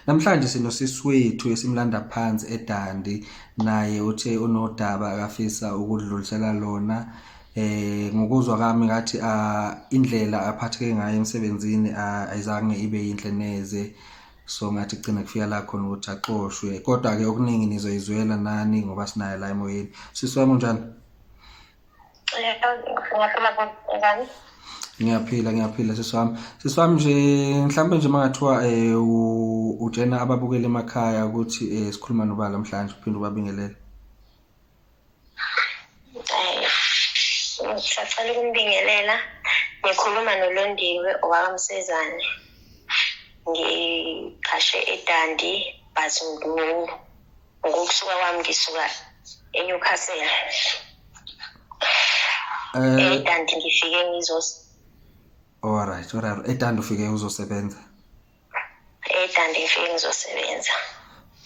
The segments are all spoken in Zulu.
Namhlanje sinosisi wethu esimlanda phansi eDandi naye uthe unodaba akafisa ukudlulisela lona eh ngokuzwa kwami ngathi ah, indlela aphatheke ngayo emsebenzini ah, ayizange ibe yinhle neze so ngathi kugcina kufika la khona ukuthi axoshwe kodwa ke okuningi nizoyizwela nani ngoba sinayo la emoyeni sisi wami unjani ngiyaphila ngiyaphila sisi wami sisi wami nje mhlawumbe nje mangathiwa um utshena ababukela emakhaya ukuthi um sikhuluma nobala mhlanje uphinde ubabingelele ngisacela ukumbingelela ngikhuluma nolondiwe owakamsezane ngiqhashe edandi but ngulu ngokusuka kwami ngisuka eNewcastle eh kanti eh, ngifike ngizos Alright, alright. Etanda ufike uzosebenza. Etanda ngifike ngizosebenza.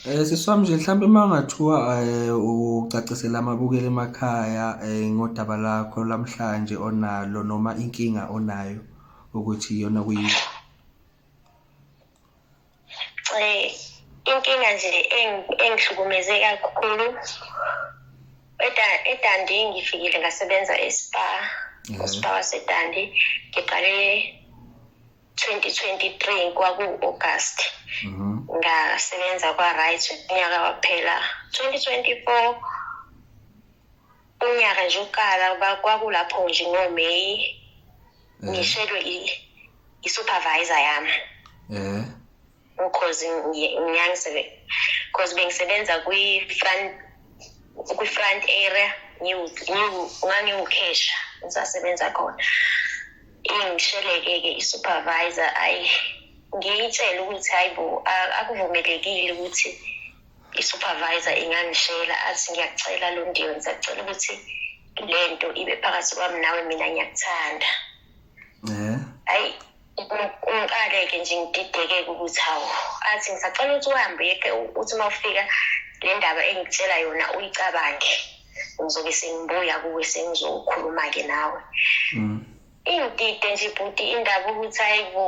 Eh siswami nje mhlawumbe uma ngathiwa eh, ucacisela amabukeli emakhaya eh, ngodaba lakho lamhlanje onalo noma inkinga onayo ukuthi iyona kuyini. Eh, inkinga nje engihlukumeze kakhulu edandi ngifikile ngasebenza espa mhm. uspa wasedandi ngiqale 2023 kwaku-august mhm. ngasebenza kwa-right unyaka waphela 2024 unyaka nje uqala ba- kwakulapho nje ngoMay ngishelwe i- i-supervisor yami Eh. because ngi- ngiyangisebe because bengisebenza kwi-front kwi-front area ngiwu- ngiwu- ngangiwukhesha ngisasebenza khona ingisheleke-ke i-supervisor ayi ngiyitshele ukuthi hayi bo a- akuvumelekile ukuthi i-supervisor ingangishela athi ngiyacela londiwe ngisacela ukuthi le nto ibe phakathi kwami nawe mina ngiyakuthanda hayi ngiqale-ke nje ngididekeke ukuthi hawu athi ngisacela ukuthi uhambe yeke uthi uma ufika le ndaba engikutshela yona uyicabange ngizobe sengibuya kuwe sengizokhuluma-ke nawe mm. Ingidide nje bhuti indaba ukuthi hayi bo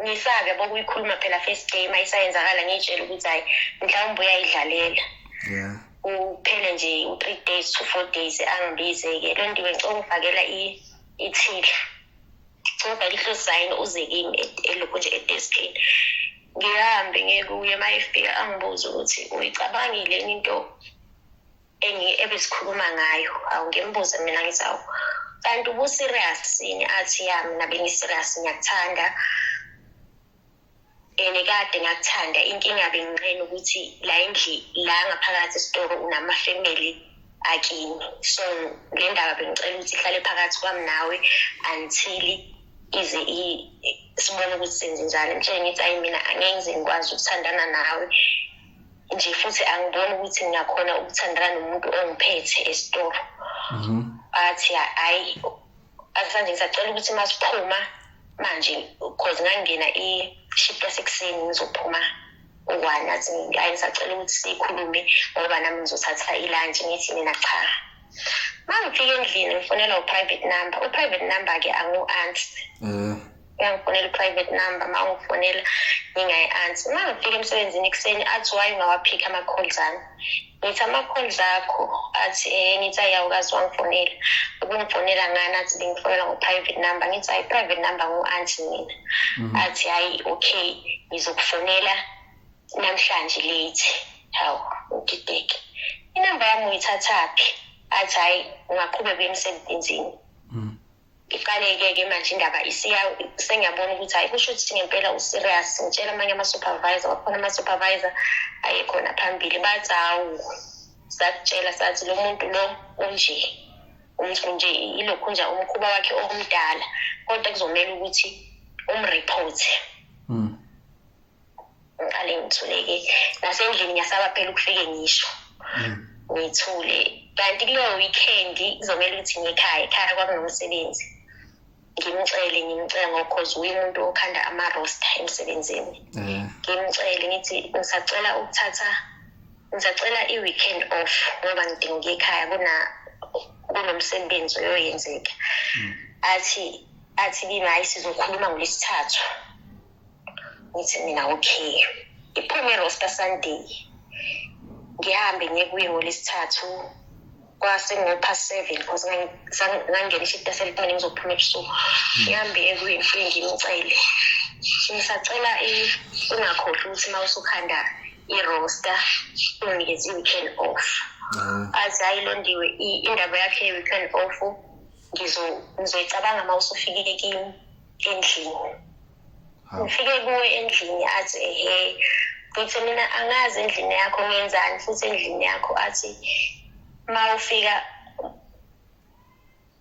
ngifake bokuyikhuluma phela first day uma isayenzakala ngiyitshela ukuthi hayi mhlawumbe uyayidlalela yeah uphele nje u-three days to four days angibize-ke loo nto ngicela ungifakela ithila ngifakela ihlosayini uze kimi elokhu nje edeskini ngihambe ngekuye uma efika angibuze ukuthi uyicabangile into ebesikhuluma ngayo awu ngimbuze mina ngithi awu kanti ubuserious yini athi ya mina bengiserious ngiyakuthanda and kade ngakuthanda inkinga benginqena ukuthi la endli la ngaphakathi esitoro unamafamily akini so le ndaba bengicela ukuthi ihlale phakathi kwami nawe until ize sibone ukuthi senze njani mtshele ngithi ayi mina angeke ngize ngikwazi ukuthandana nawe nje futhi angiboni ukuthi ngiyakhona ukuthandana nomuntu ongiphethe esitolo mhm. athi hayi asanje ngisacela ukuthi uma siphuma manje cause ngangena i-ship yasekuseni ngizophuma one athi hayi ngisacela ukuthi sikhulume ngoba nami ngizothatha ilantshi ngithi mina cha uma ngifika endlini ngifonela u-private number u-private number-ke angu-ansi um eh. uyangifonela i-private number uma ungifonela ngingayi-ansi uma ngifika emsebenzini ekuseni athi waye ungawaphikhi ama-calls ami ngithi ama-calls akho athi um ngithi ayawukazi wangifonela ubungifonela ngani athi bengifonela ngo-private number ngithi hayi i-private number ngu-anti mina mhm. athi hhayi okay ngizokufonela namhlanje late hawu udideke inamba yami uyithathaphi athi hhayi ungaqhubeka emsebenzini iqaleke ke manje indaba isiya sengiyabona ukuthi hayi kusho ukuthi ngempela userious ngitshela amanye ama-supervisor kwakhona ama-supervisor ayekhona phambili bathi hawu sakutshela sathi lo muntu lo unje umntu nje ilokhu nje umkhuba wakhe omdala kodwa kuzomele ukuthi umreporte mm. ngiqale ngithuleke nasendlini ngiyasaba phela ukufike ngisho mm. ngithule kanti kuleyo weekend kuzomele ukuthi ngikhaya ekhaya kwakunomsebenzi ngimcele ngimcele ngokhoze uye umuntu okhanda ama-rosta emsebenzini mm. ngimcele ngithi ngisacela ukuthatha ngisacela i-weekend off ngoba ngidinga ukuya ekhaya kuna kunomsebenzi oyoyenzeka mm. athi athi kimi hayi sizokhuluma ngolesithathu ngithi mina okay ngiphume roster sunday ngihambe ngiye kuye ngolesithathu kwase ngopha seven because ngangena ishita selipane ngizophuma ebusuku hmm. ngihambe ekuye ngifike ngimcele ngisacela ungakhohlwa ukuthi uma usukhanda irosta unginikeza i-weekend off ah. aze ayilondiwe indaba yakhe ye-weekend off ngizoyicabanga uma usufikile kimi endlini ngifike kuwe endlini athi ehe ngithi mina angazi endlini yakho ngenzani futhi endlini yakho athi uma ufika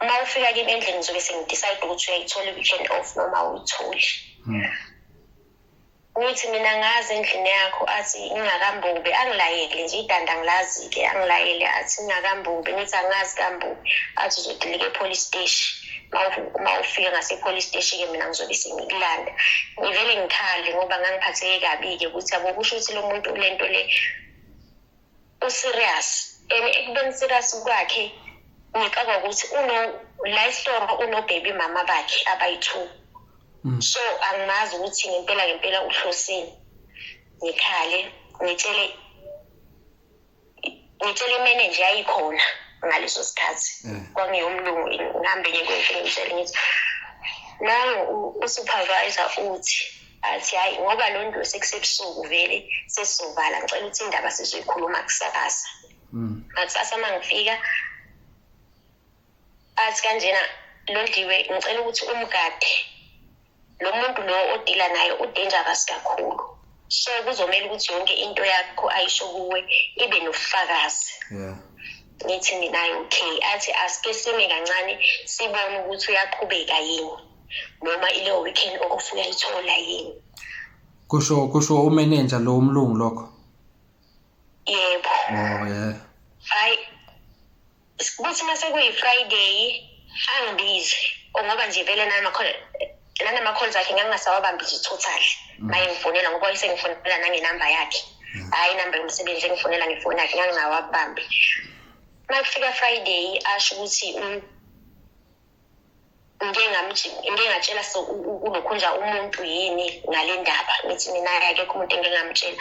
uma ufika kimi endlini ngizobe sengidecide ukuthi uyayithola i-weekend off noma awuyitholi hmm. ukuthi mina ngazi endlini yakho athi ingakambubi angilayele nje idanda ngilazi-ke angilayele athi ingakambubi ngithi angazi kambubi athi uzodilika e-police steshi uma ufika ngase-police steshi-ke mina ngizobe sengikulanda ngivele ngikhale ngoba ngangiphatheke kabi-ke ukuthi abo kusho ukuthi lo muntu le nto le userious and ekubeni serious kwakhe ngicaba ukuthi uno la isihloko unobaby mama bakhe abayi-two mm. so angimazi ukuthi ngempela ngempela uhlosini ngikhale ngitshele ngitshele imenenje yayikhona ngaleso sikhathi eh. kwangiyomlungu ngihambe ngiye kwenhle ngitshele ngithi nangu usupervisor uthi athi hhayi ngoba lo nto sekusebusuku vele sesizovala ngicela ukuthi indaba sizoyikhuluma kusakasa mm. ngakusasa uma ngifika athi kanjena londiwe ngicela ukuthi umgade lo muntu lo odila naye udangerous kakhulu so kuzomele ukuthi yonke into yakho ayisho kuwe ibe nobufakazi yeah ngithi mina okay athi asike sime kancane sibone ukuthi uyaqhubeka yini noma ileyo weekend okufuna ithola yini kusho kusho umenenja lo umlungu lokho yebo oh yeah hayi kuthi mase kuyi-friday angibize ngoba nje vele nanama-calls akhe ngangingasawabambi nje totally mm. maye ngifonela ngoba wayesengifonela nangenamba yakhe mm. hhayi inamba yomsebenzi engifonela ngefoni yakhe ngangingawabambi uma kufika friday asho ukuthi mm, ngike ngike ngatshela so unokhunja umuntu yini ngale ndaba ngithi mina akekho umuntu engike ngamtshela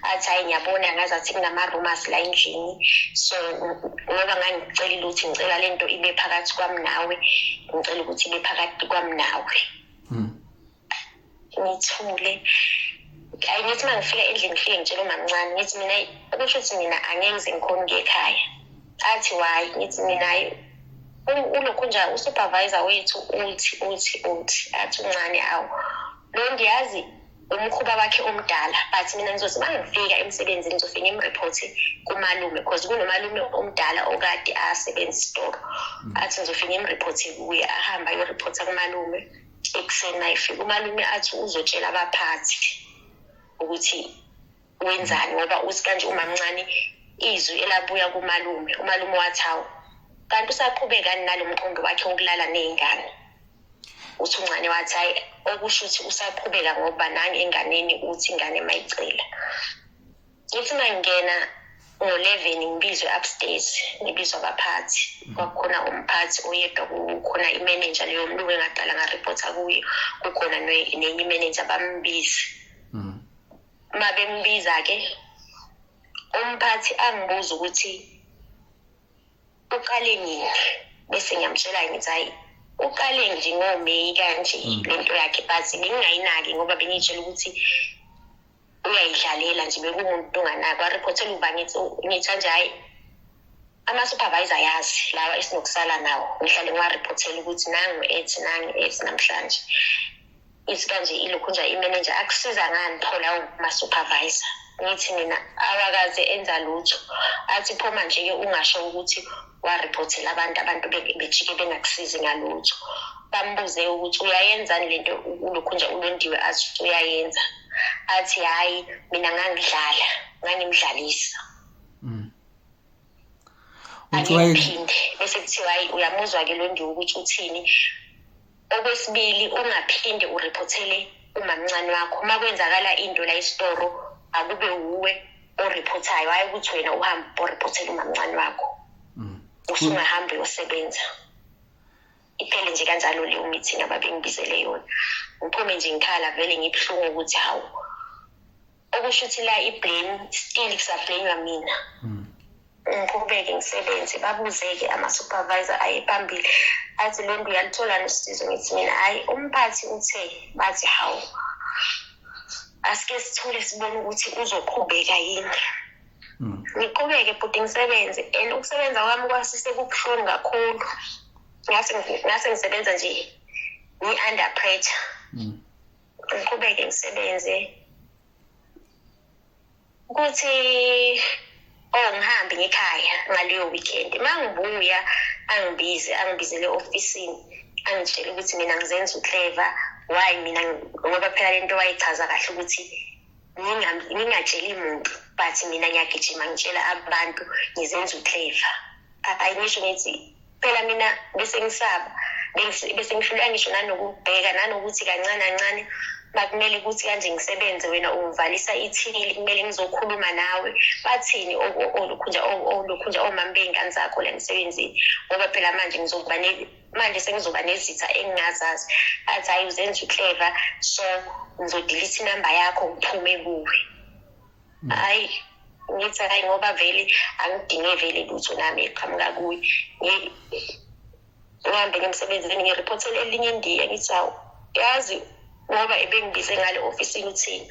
athi hayi ngiyabona ngazi athi kunama-rumors la endlini so ngoba ngangicelile ukuthi ngicela le nto ibe phakathi kwami nawe ngicela ukuthi ibe phakathi kwami nawe hmm. ngithule ayi ngithi uma ngifika endlini ngifike ngitshela umamncane ngithi mina kusho ukuthi mina angeke ngize ngikhona ukuya ekhaya athi wayi ngithi mina hayi ulokhu nje usupervisor wethu uthi uthi uthi athi uncane awu lo ngiyazi umkhuba wakhe omdala but mina ngizothi uma ngifika emsebenzini ngizofike ngimreporte kumalume because kunomalume omdala okade asebenza isitoro mm. athi ngizofike ngimreporte kuye ahambe ayoreporta kumalume mm. ekuseni mayifika umalume athi uzotshela abaphathi ukuthi wenzani ngoba uthi kanje umamncane izwi elabuya kumalume umalume wathi hawu kanti usaqhubekani nalo mqondo wakhe wokulala ney'ngane uthi uncane wathi hhayi okusho ukuthi usaqhubeka ngokuba nange enganeni uthi ingane mayicela ngithi mangingena ngo-eleven ngibizwe upstairs ngibizwa abaphathi mhm. kwakukhona umphathi oyedwa kukhona imenenja leyo mlungu engaqala ngareportha kuyo kukhona nenye imenenja bambize mhm. uma bembiza-ke umphathi angibuza ukuthi uqale nini bese ngiyamtshela ngithi hhayi uqale nje ngomeyi kanje mm. lento yakhe but bengingayinaki ngoba bengiyitshela ukuthi uyayidlalela nje bekumuntu unganaki wariphothela ukuba ngitha nje hhayi ama-supervisor yazi lawa esinokusala nawo ngihlale ngiwariphothela ukuthi nangu ethi nangu ethi namhlanje ithi kanje ilokhu nje imenenja akusiza ngani pho lawo ma-supervisor ngithi mina awakaze enza lutho athi phoma nje-ke ungasho ukuthi wariphothela abantu abantu bejike bengakusizi ngalutho bambuze ukuthi uyayenzani le nto ulokhu nje ulondiwe athi uyayenza athi hhayi mina ngangidlala ngangimdlalisa mm. angiphinde bese kuthiwa hayi uyamuzwa-ke londiwe ukuthi uthini Okwesibili ungaphinde uriphothele umamncane wakho uma kwenzakala into la isitoro akube wuwe oriphothayo hhayi ukuthi wena uhambe oriphothele umamncane wakho mm. usungahambi uyosebenza iphele nje kanjalo leyo meeting ababengibizele yona ngiphume nje ngikhala vele ngibuhlungu ukuthi hawu okusho ukuthi la i-blame still kusablamewa mina hmm. ngiqhubeke ngisebenze babuze-ke ama-supervisor aye phambili athi le nto uyalitholani usizo ngithi mina hhayi umphathi uthe bathi hawu asike sithule sibone ukuthi uzoqhubeka yini hmm. ngiqhubeke bhuti ngisebenze and ukusebenza kwami kwasise kubuhlungu kakhulu ngase ngisebenza nje ngi-under pressure hmm. ngiqhubeke ngisebenze kuthi or oh, ngihambe ngekhaya ngaleyo weekend uma ngibuya angibize angibizele ofisini angitshele ukuthi mina ngizenza ucleva why mina ngoba phela lento wayichaza kahle ukuthi ngingatsheli muntu but mina ngiyagijima ngitshela abantu ngizenza ucleva ayingisho ngithi phela mina bese ngisaba bese ngihluleka ngisho nanokubheka nanokuthi kancane kancane bakumele ukuthi kanje ngisebenze wena ungivalisa ithili kumele ngizokhuluma nawe bathini olukhunja olukhunja omama bey'ngane zakho la emsebenzini ngoba phela manje ngizokuba manje sengizoba nezitha engingazazi athi hhayi uzenza uclever so ngizodilitha inamba yakho ngiphume kuwe hayi ukuthi hayi ngoba vele angidinge vele lutho nami eqhamuka kuye ngihambe ngemsebenzini ngiriphothele elinye indiya ngithi hawu yazi ngoba ebengibize ngale ofisini uthini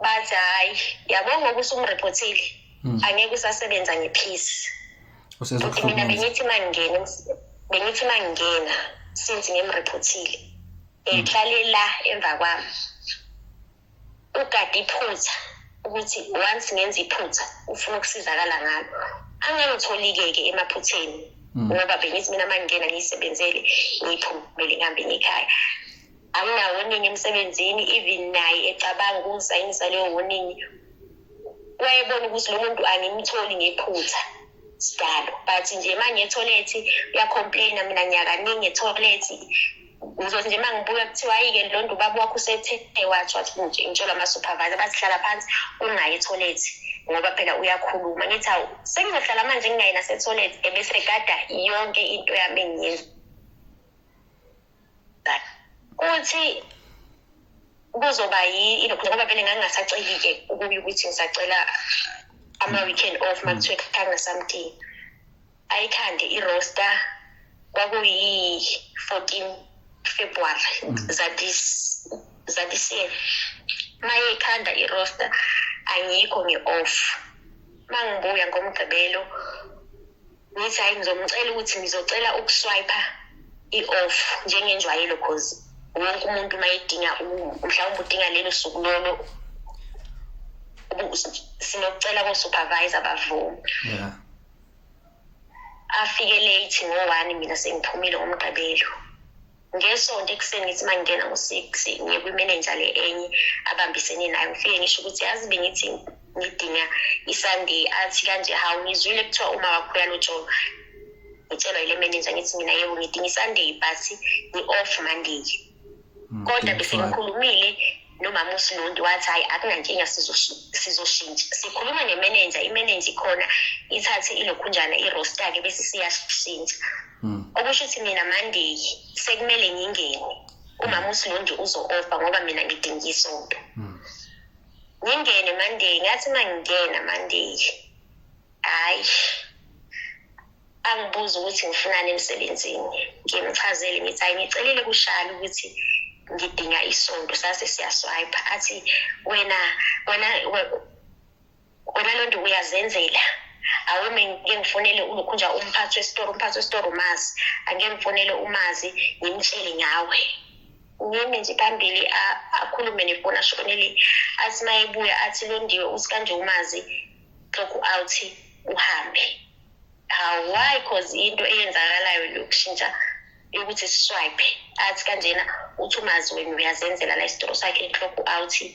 bathi hhayi yabo ngoba usumrephothile hmm. angeke usasebenza ngephisi futhi mina bengithi uma ngingena bengithi uma ngingena since ngimrephothile ngihlale la emva kwami ugade iphutha ukuthi once ngenza iphutha ufuna ukusizakala ngalo angangitholi-ke-ke emaphutheni mm. ngoba bengithi mina uma ngingena ngiyisebenzele ngiphumele ngihambe ngikhaya anginawo oningi emsebenzini even naye ecabanga ukungisayinisa leyo woningi wayebona ukuthi lo muntu angimtholi ngephutha sidalo but nje uma ngiyetholethi uyacomplaina mina nyakaningi etholethi ngizothi nje uma ngibuya kuthiwa ayike lo nto ubaba wakho usethe watho wathi nje ngitshelwa ama-supervisor bazihlala phansi ungayi etholethi ngoba phela uyakhuluma ngithi awu sengizohlala manje ngingayi nasetoilet ebese gada yonke into yami engiyenza kuthi kuzoba yini ngoba vele ngangingasaceli-ke ukuye ukuthi ngisacela ama-weekend off uma kuthiwe kangasamdingi ayikhande iroster kwakuyi-14 february mm. zadisiye mayeyikhanda iroster angikho ngi-off uma ngibuya ngomgqibelo ngithi hhayi ngizomcela ukuthi ngizocela ukuswiper i-off njengenjwayelo cause wonke umuntu uma edinga mhlawumbe udinga lelo suku lolo sinokucela ko-supervisor bavuma afike late ngo-one mina sengiphumile ngomgqibelo ngesonto ekuseni ngithi uma ngingena ngo-six ngiye kwimenenja le enye abambisene nayo ngifike ngisho ukuthi yazi bengithi ngidinga isunday athi kanje hawu ngizwile kuthiwa uma wakho uyalotsholo ngitshelwa yile menenja ngithi mina yebo ngidinga isunday but ngi-off monday kodwa besengikhulumile nomama usinonti wathi hhayi akunankinga sizoshintsha sikhuluma nemenenja imenenja ikhona ithathe ilokhunjana irosta-ke bese siyashintsha hmm. okusho ukuthi mina mandeyi sekumele ngingene umama usilondi uzo-ofa ngoba mina ngidinga isonto hmm. ngingene mandeyi ngathi uma ngingena mandeyi hayi angibuza ukuthi ngifunani emsebenzini ngimchazele ngithi hayi ngicelile kushali ukuthi ngidinga isonto sase siyaswipe athi wena wena wena lo nto uyazenzela awume ngike ngifonele ulokhu nje umphathi wesitoro umphathi wesitoro umazi angike ngifonele umazi ngimtshele ngawe ngime nje phambili akhulume nefoni asho koneli athi mayebuya athi londiwe uthi kanje umazi lokhu awuthi uhambe why cause into eyenzakalayo lokushintsha yokuthi siswipe athi kanjena uthi umazi wena uyazenzela la isitoro sakhe lokhu awuthi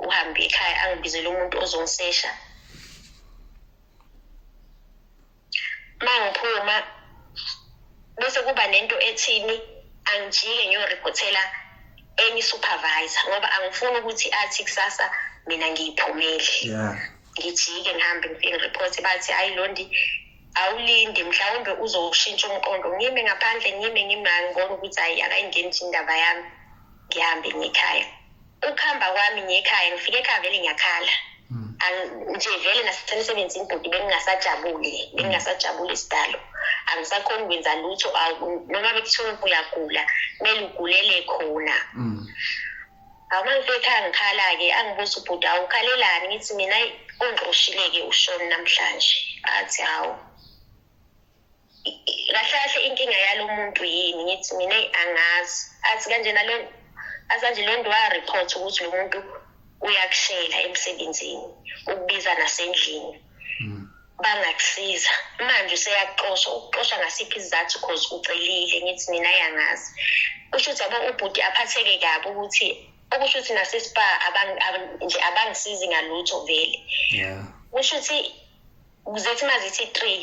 uhambe ekhaya angibizele umuntu ozongisesha mangiphuma bese kuba nento ethini angijike ngiyoriphothela enye supervisor ngoba angifuni ukuthi athi kusasa mina ngiyiphumeli yeah ngijike ngihambe ngifike report bathi hayi londi awulindi mhlawumbe uzowushintsha umqondo ngime ngaphandle ngime ngimangibona ukuthi hayi akayingeni nje indaba yami ngihambe ngikhaya ukuhamba kwami ngiyekhaya ngifike ekhaya vele ngiyakhala hmm. nje vele nasemsebenzini bhuti bengingasajabuli bengingasajabuli isidalo angisakhoni ukwenza lutho noma bekuthiwa uyagula kumele ugulele khona hmm. awu uma ngifike ekhaya ngikhala-ke angibuza ubhuti awu ukhalelani ngithi mina ungqoshile-ke ushoni namhlanje athi hawu kahle kahle inkinga yalo muntu yini ngithi mina angazi athi kanjena lo asanje loo nto wareport ukuthi lo muntu uyakushela emsebenzini ukubiza nasendlini hmm. bangakusiza manje useyakuxosha ukuxosha ngasiphi isizathu cause ucelile ngithi mina yangazi kusho ukuthi yabo ubhuti aphatheke kabi ukuthi okusho ukuthi nasespa nje abangisizi ngalutho vele kusho ukuthi zithi uma zithi three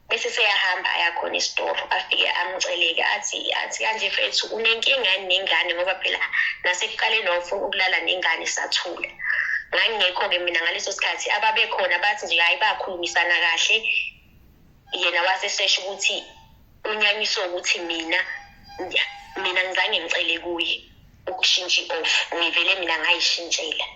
bese seyahamba ayakhona esitoro afike amceleke athi athi kanje fethu unenkinga nengane ngoba phela nasekuqaleni wawufuna ukulala nengane sathula ngangingekho-ke mina ngaleso sikhathi ababekhona bathi nje hhayi bakhulumisana kahle yena wasesesho ukuthi unyanyiswe ukuthi mina mina ngizange ngicele kuye ukushintsha i-off ngivele mina ngayishintshela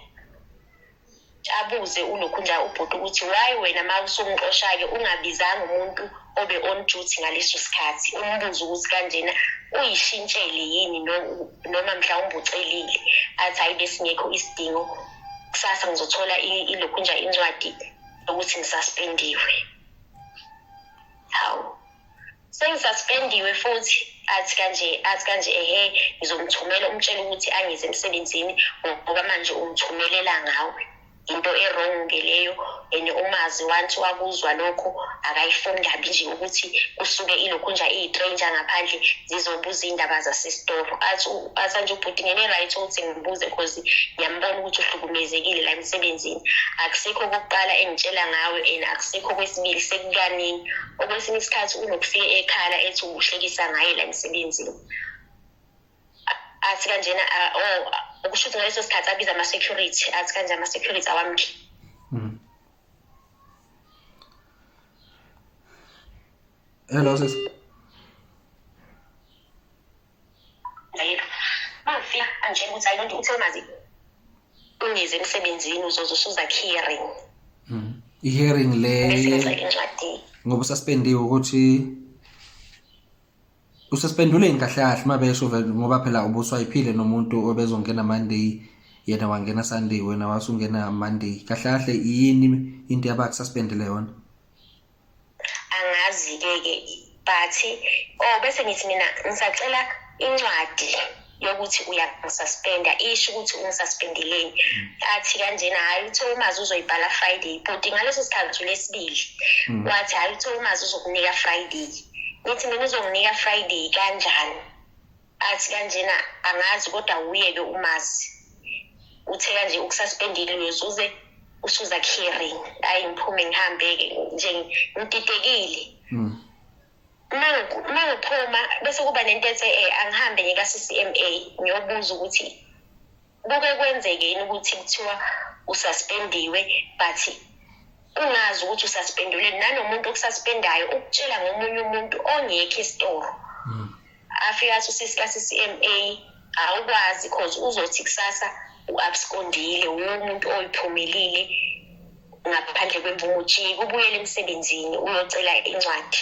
abuze ulokhunja ubhuti ukuthi why wena ma usumxosha-ke ungabizanga umuntu obe on duty ngaleso sikhathi umbuze ukuthi kanjena uyishintshele yini no- noma mhlawumbe ucelile athi hayi besingekho isidingo kusasa ngizothola i- ilokhunja incwadi yokuthi ngisaspendiwe hawu sengisaspendiwe futhi athi kanje athi kanje ehe ngizomthumela umtshela ukuthi angize emsebenzini ngoba manje umthumelela ngawe into erong ke leyo and umazi wanthi wakuzwa lokho akayifuni kabi nje ukuthi kusuke ilokhu nje iyitranger ngaphandle zizobuza iy'ndaba zasesitoro athi athi nje ubhuti ngene-right ukuthi ngibuze cause ngiyambona ukuthi uhlukumezekile la emsebenzini akusikho okokuqala engitshela ngawe and akusikho okwesibili sekukaningi okwesinye isikhathi unokufika ekhala ethi uhlekisa ngaye la emsebenzini athi kanjena o oh, ukusho ukuthi ngaleso sikhathi abiza ama-security athi kanje ama-security awamkhi mm. hello sis Ngayeka. Mangifika angitshela ukuthi ayilonto uthe mazi ungize emsebenzini uzoze usuza hearing. Mhm. I-hearing le ngoba ususpendiwe ukuthi ususpendule yini kahle kahle uma besho ngoba phela ubuswayiphile nomuntu obezongena Monday yena wangena Sunday wena wasungena Monday kahle kahle yini into yabakususpendele yona angazi-ke ke but o oh, bese ngithi mina ngisacela incwadi yokuthi uyangisaspenda isho ukuthi ungisaspendeleni athi kanjena hhayi uthe umazi uzoyibhala friday bhuti ngaleso sikhathi ulesibili mm. wathi hhayi uthe umazi uzokunika friday ngithi mina uzonginika friday kanjani athi kanjena angazi kodwa wuyeke umazi uthe kanje ukususpendile uyosuze usuza caring ayi ngiphume ngihambe-ke nje ngididekile hmm. uma ngiphuma bese kuba nento ethe um angihambe ngika-c c m a ngiyobuza ukuthi kuke kwenzeke yini ukuthi kuthiwa ususpendiwe but ungazi ukuthi ususpendiwe nanomuntu okususpendayo ukutshela ngomunye umuntu ongekho isitoro hmm. afike athi usisika CCMA awukwazi because uzothi kusasa u-abskondile wumuntu oyiphumelile ngaphandle kwemvumo ujike ubuyele emsebenzini uyocela incwadi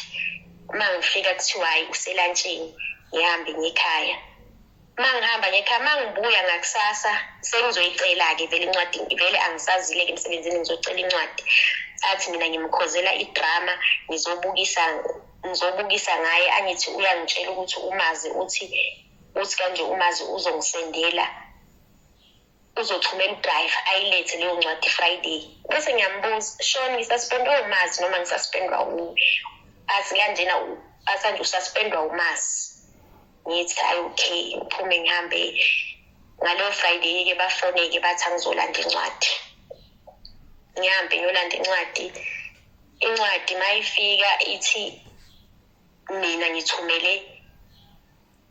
uma ngifika kuthiwa hhayi uselantsheni ngihambe ngekhaya mangihamba ngekhaya mangibuya ngakusasa sengizoyicela-ke vele incwadi vele angisazile-ke emsebenzini ngizocela incwadi athi mina ngimkhozela idrama ngizobukisa ngizobukisa ngaye angithi uyangitshela ukuthi umazi uthi uthi kanje umazi uzongisendela uzothumela udrayiva ayilethe leyo ncwadi friday bese ngiyambuza shon ngisaspendwa umazi noma ngisaspendwa athi kanjena asanje usaspendwa umazi ngithi ayi okay ngiphume ngihambe ngaleyo friday-ke bafone-ke bathi angizolanda incwadi ngihambe ngiyolanda incwadi incwadi mayifika ithi mina ngithumele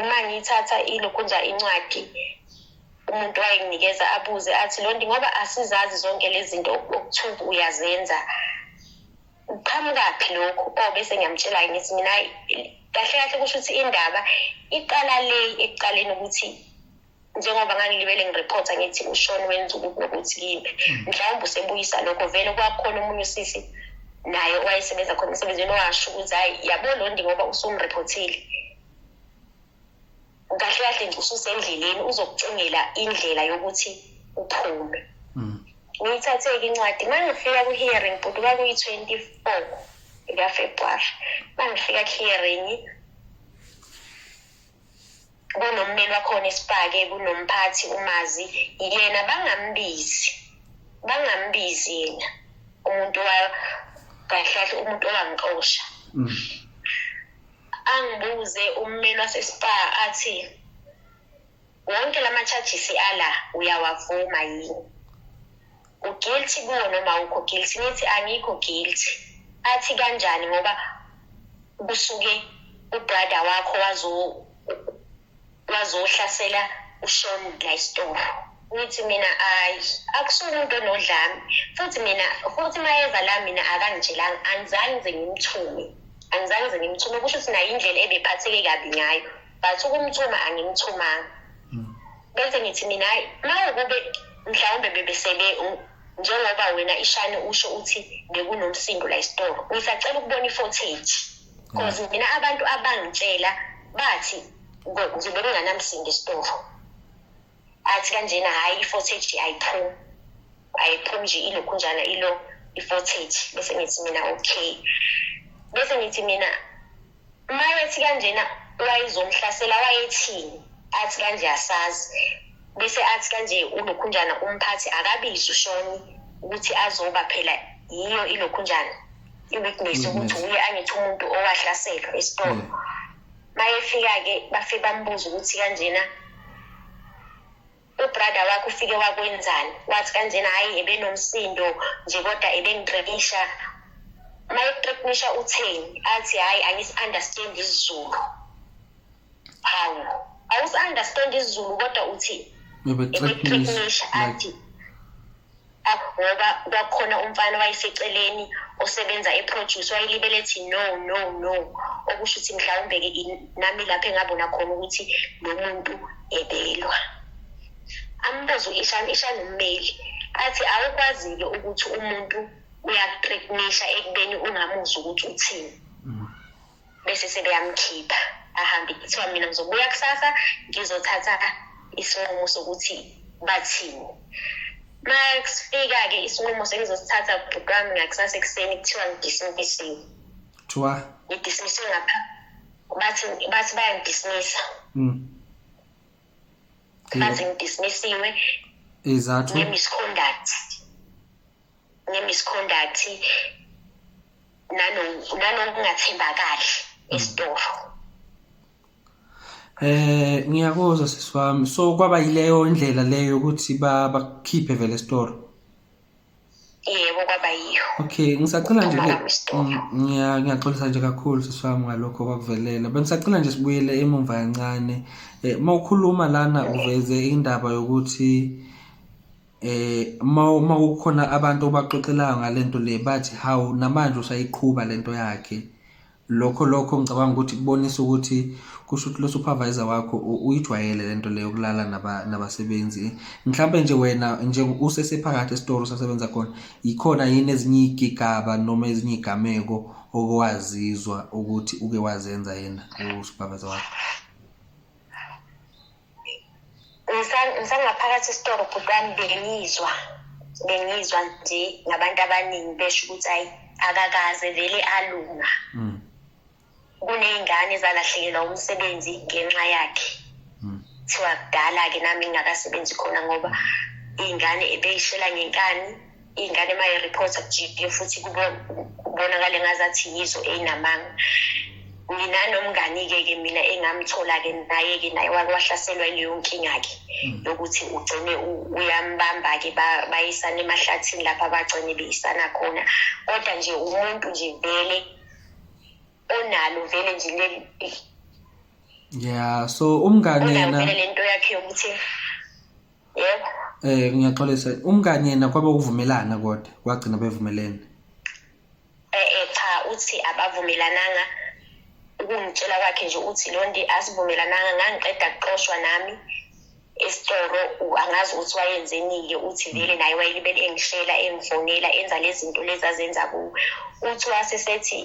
uma ngithatha ilokhunja incwadi umuntu wayenginikeza abuze athi lonto ngoba asizazi zonke lezi zinto okuthiwa uyazenza qhamukaphi lokhu o bese ngiyamtshela ngithi mina kahle kahle kusho ukuthi indaba iqala le ekuqaleni ukuthi njengoba ngangilibele ngirephotha ngithi ushoni wenza ukuthi nokuthi kimi hmm. mhlawumbe usebuyisa lokho vele kwakhona omunye usisi naye owayesebenza khona emsebenzini owasho ukuthi hhayi yabo londi ngoba usumrephothile kahle kahle nje ususendleleni uzokucingela indlela yokuthi uphume hmm. ngiyithathe-ke incwadi uma ngifika kwi-hearing bhuti kwakuyi-twenty four ikafebruwari uma ngifika ku-hearing kunommeli wakhona isipake kunomphathi umazi yena bangambizi bangambizi yena umuntu wa kahlahle umuntu owangixosha mm. angibuze ummeli wasespa athi wonke lama charges ala uyawavuma yini uguilty kuwo noma awukho guilty nithi angikho guilty athi kanjani ngoba kusuke ubrother wakho wazo wazohlasela ushoni la isitofu ngithi mina ayi akusona umuntu onodlami futhi mina futhi mayeza la mina akangitshelanga angizange nze ngimthume angizange nze ngimthume kusho ukuthi nayo indlela ebephatheke kabi ngayo but ukumthuma angimthumanga hmm. bese ngithi mina hayi uma ukube mhlawumbe bebesele njengoba wena ishane usho uthi bekunomsindo la isitolo ngisacela ukubona i-footage because hmm. mina abantu abangitshela bathi ngizobe kunganamsindo isitolo athi kanjena hhayi i-footage ayiphumi ayiphumi nje ilokhu njana ilo i-footage bese ngithi mina okay bese ngithi mina Mayethi kanjena wayezomhlasela wayethini athi kanje asazi bese athi kanje ulokhunjana umphathi akabizi ushoni ukuthi azoba phela yiyo ilokhunjana i-witness ukuthi uye angithi umuntu owahlaselwa esitolo mm. mayefika-ke bafike bambuza ukuthi kanjena ubrother wakho ufike wakwenzani wathi kanjena hhayi ebenomsindo nje kodwa ebengigqekisha uma eqeqisha utheni athi hhayi angisi-understand isizulu hawu awusi-understand isizulu kodwa uthi ebeqeqisha athi ngoba kwakukhona umfana wayeseceleni osebenza eproduce wayelibele ethi no no no okusho ukuthi mhlawumbe-ke nami lapho engabona khona ukuthi lo muntu ebelwa ambuzo ishani ishani ummeli athi awukwazi-ke ukuthi umuntu uyakutriknisha ekubeni ungamuzwa ukuthi uthini mm. bese sebeyamkhipha ahambe kuthiwa mina ngizobuya kusasa ngizothatha isinqumo sokuthi bathini ma kusifika-ke isinqumo sengizosithatha bhuti wami ngakusasa ekuseni kuthiwa ngidismisiwe kuthiwa ngidismisiwe ngapha bathi bathi bayangidismisa mm. bathi ngidismisiwe izathu nge-misconduct nge-misconduct nanokungathembakali esitoro eh ngiyakuzwa sisi wami so kwaba yileyo indlela leyo ukuthi bakhiphe vele esitoro yebo kwaba yiyo okay ngisacela nje mm, ngiyaxolisa nje kakhulu sisi wami ngalokho kwakuvelela bengisacela nje sibuyele emumva kancane um eh, uma ukhuluma lana uveze indaba yokuthi eh uma kukhona abantu obaxoxelayo ngalento le bathi hawu namanje usayiqhuba lento yakhe lokho lokho ngicabanga ukuthi kubonisa ukuthi kusho ukuthi lo supervisor wakho uyijwayele lento leyo kulala nabasebenzi mhlawumbe nje wena nje usesephakathi esitoro sasebenza khona yikhona yini ezinye igigaba noma ezinye igameko okwazizwa ukuthi uke wazenza yena usupervisor wakho ngisangaphakathi esitolo bhuti wami bengizwa bengizwa nje ngabantu abaningi besho ukuthi ayi akakaze vele alunga mm. kuney'ngane ezalahlekelwa umsebenzi ngenxa yakhe mm. kuthiwa kudala-ke nami ngingakasebenzi khona ngoba iy'ngane ebeyishela ngenkani iy'ngane uma yi-reporta ku-gp futhi kubonakale ngazathi yizo eyinamanga nginanomngani-ke ke mina engamthola-ke naye-ke naye wake wahlaselwa ileyo nkinga-ke hmm. yokuthi ugcine uyambamba-ke bayisana emahlathini lapho abagcine beyisana khona kodwa nje umuntu nje vele onalo vele nje leli ya so umngane yena le nto yakhe yokuthi yes eh ngiyaxolisa umngani yena kwabe uvumelana kodwa kwagcina bevumelene eh, eh cha uthi abavumelananga ukungitshela kwakhe nje uthi londi asivumelananga ngangiqeda kuxoshwa nami esitoro angazi ukuthi wayenzenike uthi vele naye wayelibele engishela engifonela enza lezi zinto lezi azenza kuwo uthi wasesethi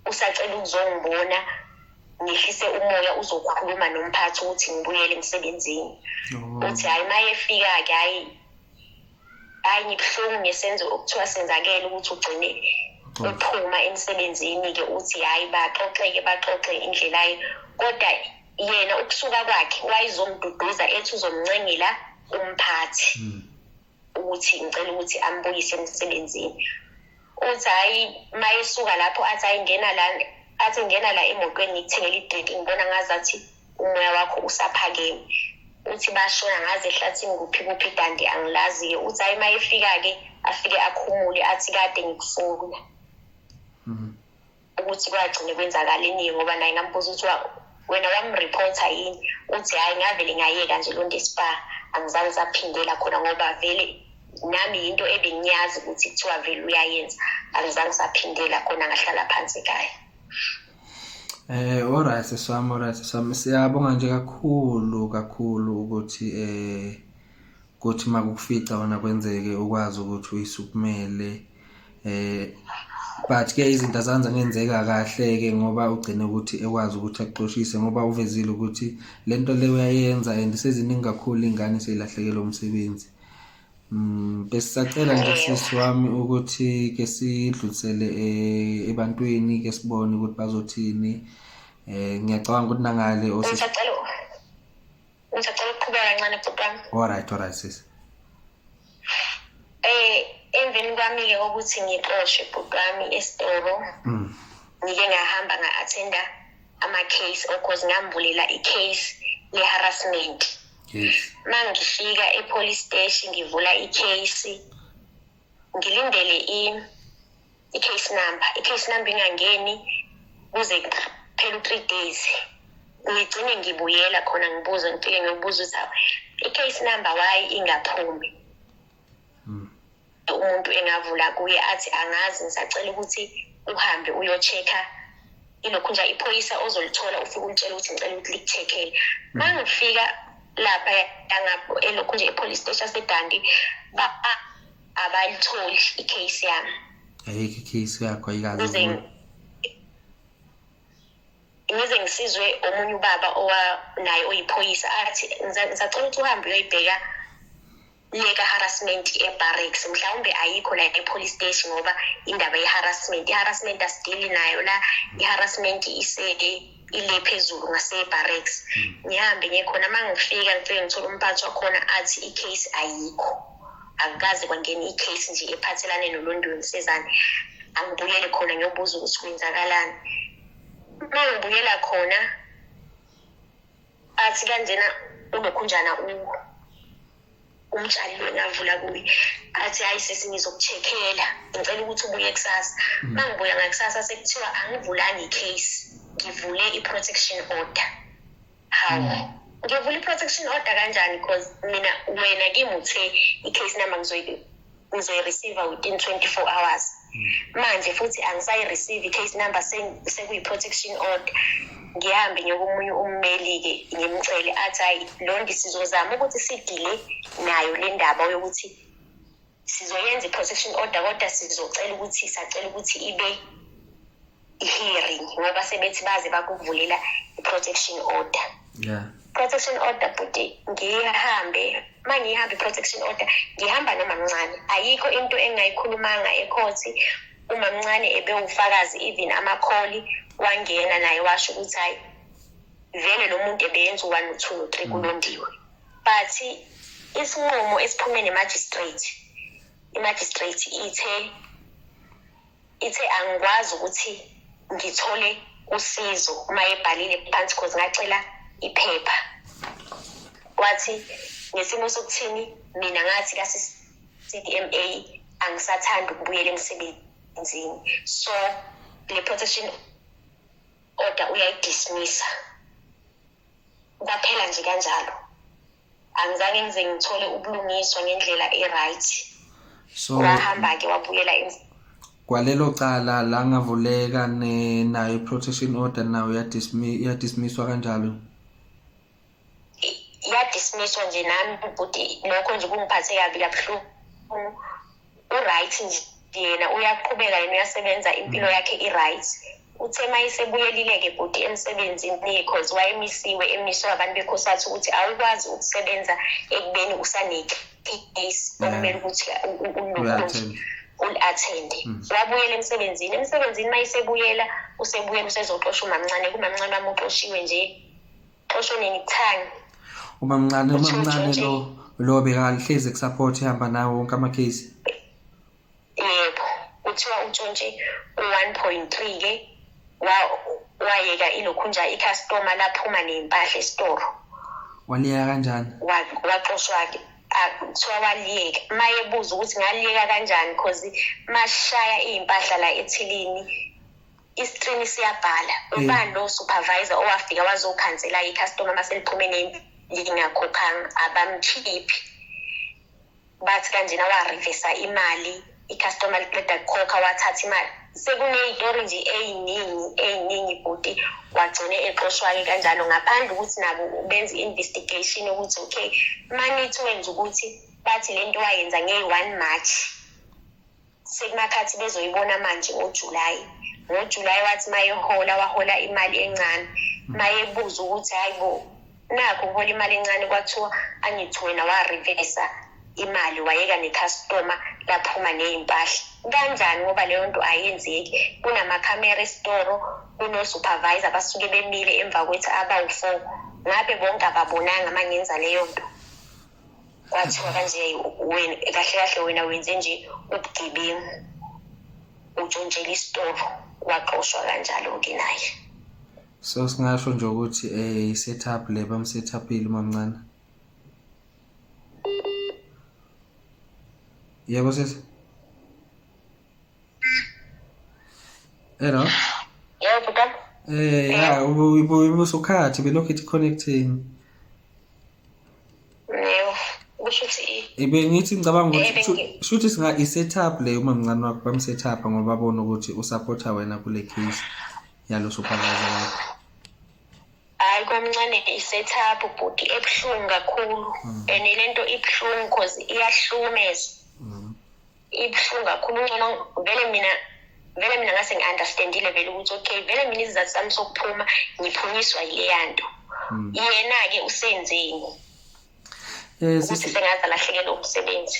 usacela ukuzongibona ngehlise umoya uzokhuluma nomphathi ukuthi ngibuyele emsebenzini oh. uthi hhayi uma efika-ke hhayi hhayi ngibuhlungu ngesenzo okuthiwa senzakele ukuthi ugcine ephuma emsebenzini-ke uthi hhayi baxoxeke baxoxe indlelayo kodwa yena ukusuka kwakhe wayezomduduza ethi uzomncengela umphathi mm. ukuthi ngicela ukuthi ambuyise emsebenzini uthi hhayi uma esuka lapho athi ayingena la athi ngena la emotweni ngikuthengela idrink ngibona ngazathi umoya wakho usaphakeme uthi bashona ngaze ehlathini kuphi kuphi dandi angilazi-ke uthi hhayi uma efika-ke afike akhumule athi kade ngikufuna mm -hmm. ukuthi kwagcine kwenzakalini ngoba naye ngambuza ukuthi wena wamreporta yini uthi hhayi ngavele ngayeka nje lo nto espa angizange saphindela khona ngoba vele nami yinto ebengiyazi ukuthi kuthiwa vele uyayenza angizange saphindela khona ngahlala phansi kaya Eh alright sesami alright sesami siyabonga nje kakhulu kakhulu ukuthi eh kuthi makufica wona kwenzeke ukwazi ukuthi uyisukumele eh but ke izinto azanza ngenzeka kahle ke ngoba ugcine ukuthi ekwazi ukuthi axoshise ngoba uvezile ukuthi lento le uyayenza and seziningi kakhulu ingane seyilahlekelwe umsebenzi Mm besacela nje sisi wami ukuthi ke sidlulisele eh, ebantwini ke sibone ukuthi bazothini eh ngiyacabanga ukuthi nangale osacela usacela ukuqhubeka kancane bhuti wami all right all right sisi Eh emveni kwami ke ukuthi ngixoshwe bhuti wami esitolo. Mm. Ngike ngahamba nga-attenda ama-case or cause ngambulela i-case le-harassment. Yes. Mangifika e-police station ngivula i-case ngilindele i i-case number i-case number ingangeni kuze kuphela u-three days ngigcine ngibuyela khona ngibuze ngifike ngiyobuza ukuthi i-case number why ingaphumi hmm. umuntu engavula kuye athi angazi ngisacela ukuthi uhambe uyo-check-a ilokhu nje iphoyisa ozolithola ufike ulitshela ukuthi ngicela ukuthi likucheck-ele hmm. ma ngifika lapha elokhu nje epholisi station sedandi abayitholi i-case yami ayikho i-case yakho ayikazi ngize ngisizwe omunye ubaba naye oyiphoyisa athi ngisacela ukuthi uhambe uyoyibheka leka harassment ebarracks mhlawumbe ayikho la e-police station ngoba indaba ye-harassment i-harassment asidili nayo la i-harassment iseke ile phezulu ngasebarracks hmm. ngihambe ngiye khona uma ngifika ngifike ngithole umphathi wakhona athi i-case ayikho akukaze kwangena i-case nje ephathelane nolondweni sezane angibuyele khona ngiyobuza ukuthi kwenzakalani uma ngibuyela khona athi kanjena unokhunjana umtshali lo ngavula kuye athi hayi sisi ngizokuchekhela ngicela ukuthi ubuye kusasa mm. uma ngibuya ngakusasa sekuthiwa angivulanga i-case ngivule i-protection order hawu mm. ngivula i-protection order kanjani because mina wena kimi uthe i-case number ngizoyi ngizoyi-receive within 24 hours hmm. manje futhi angisayi-receive i-case number sekuyi-protection order ngihambe ngiyokomunye ummeli-ke ngimcele athi hhayi lonke sizozama ukuthi sidile nayo le ndaba yokuthi sizoyenza i-protection order kodwa sizocela ukuthi sacela ukuthi ibe i-hearing ngoba sebethi baze bakuvulela i-protection order yeah protection order bhuti ngihambe uma ngihambe i-protection order ngihamba nomamncane ayikho into engingayikhulumanga ekhothi umamncane ebewufakazi even amakholi wangena naye washo ukuthi hhayi vele lo muntu ebeyenza u-one no-two no-three mm. kulondiwe but isinqumo esiphume nemagistrate imagistrate ithe ithe angikwazi ukuthi ngithole usizo uma ebhalile phansi cause ngacela iphepha wathi ngesimo sokuthini mina ngathi ka-CDMA angisathandi ukubuyela emsebenzini so le protection order uyayidismissa kwaphela nje kanjalo angizange ngize ngithole ubulungiswa ngendlela e-right so wahamba-ke wabuyela kwalelo cala la ngavuleka nayo i-protection order nayo yadismisswa kanjalo yadismisswa nje nami bhuti lokho nje kungiphathe kabi kabuhlungu uright nje yena uyaqhubeka yena uyasebenza impilo yakhe i-right uthe uma isebuyelile-ke bhuti emsebenzini because wayemisiwe emiswe abantu bekhosatha ukuthi awukwazi ukusebenza ekubeni usanecase okumele ukuthi ulokhonje uli-athende hmm. wabuyela emsebenzini emsebenzini uma isebuyela usebuyela usezoxosha umamncane kumamncane mamuxoshiwe nje xosho nenithang umamncane umamncane lo lo bekahlezi kusupport ehamba nawo wonke amakhesi yebo kuthiwa utshontshe u-one point three ke wayeka ilokhunja ikhastoma laphuma nempahla esitoro waliyeka kanjani waxoshwa-ke kuthiwa waliyeka uma yebuza ukuthi ngaliyeka kanjani because mashaya iy'mpahla la ethilini iskrini siyabhala ubani lo supervisor owafika wazokhansela i-customer uma seliphume lingakhokhanga abamkhiphi bathi kanjena warevisa imali i-customer liqeda kukhokha wathatha imali sekuneyitori nje eyiningi eyiningi bhuti wagcine exoshwa-ke kanjalo ngaphandle ukuthi nabo benze i-investigation ukuthi okay manithi wenza ukuthi bathi le nto wayenza ngey-one march sekumakhathi bezoyibona manje ngojulayi ngojulayi wathi mayehola wahola imali encane mayebuza ukuthi hayi bo nakho ngihola imali encane kwathiwa angithi wena warivesa imali wayeka nekhastoma laphuma neyimpahla kanjani ngoba leyo nto ayenzeki kunamakhamera esitoro kunosupervisor basuke bemile emva kwethu abawu-four ngabe bonke ababonanga uma ngenza leyo nto kwathiwa kanje wena kahle kahle wena wenze nje ubugebengu utshontshela isitolo waxoshwa kanjalo-ke naye so singasho nje ukuthi um i-set up le bam-set upile umamncane yebo sesi Hello. Yebo ka. Eh ya ubusukhathi belokhu ithi connecting. Yebo. Kusho ukuthi ibe ngithi ngicabanga ukuthi shuthi singa i setup le uma mncane wakho bam setup ngoba bona ukuthi u supporta wena kule case yalo supervisor wakho. Hayi kwamncane i setup bhuti ebuhlungu kakhulu hmm. and lento ibuhlungu because iyahlumeza. ibuhlungu kakhulu uncono vele mina vele mina ngase ngi-understandile vele ukuthi okay vele mina izizathu sami sokuphuma ngiphunyiswa yileya nto hmm. yena-ke usenzeni eh, ukuthi sengaze alahlekelwe umsebenzi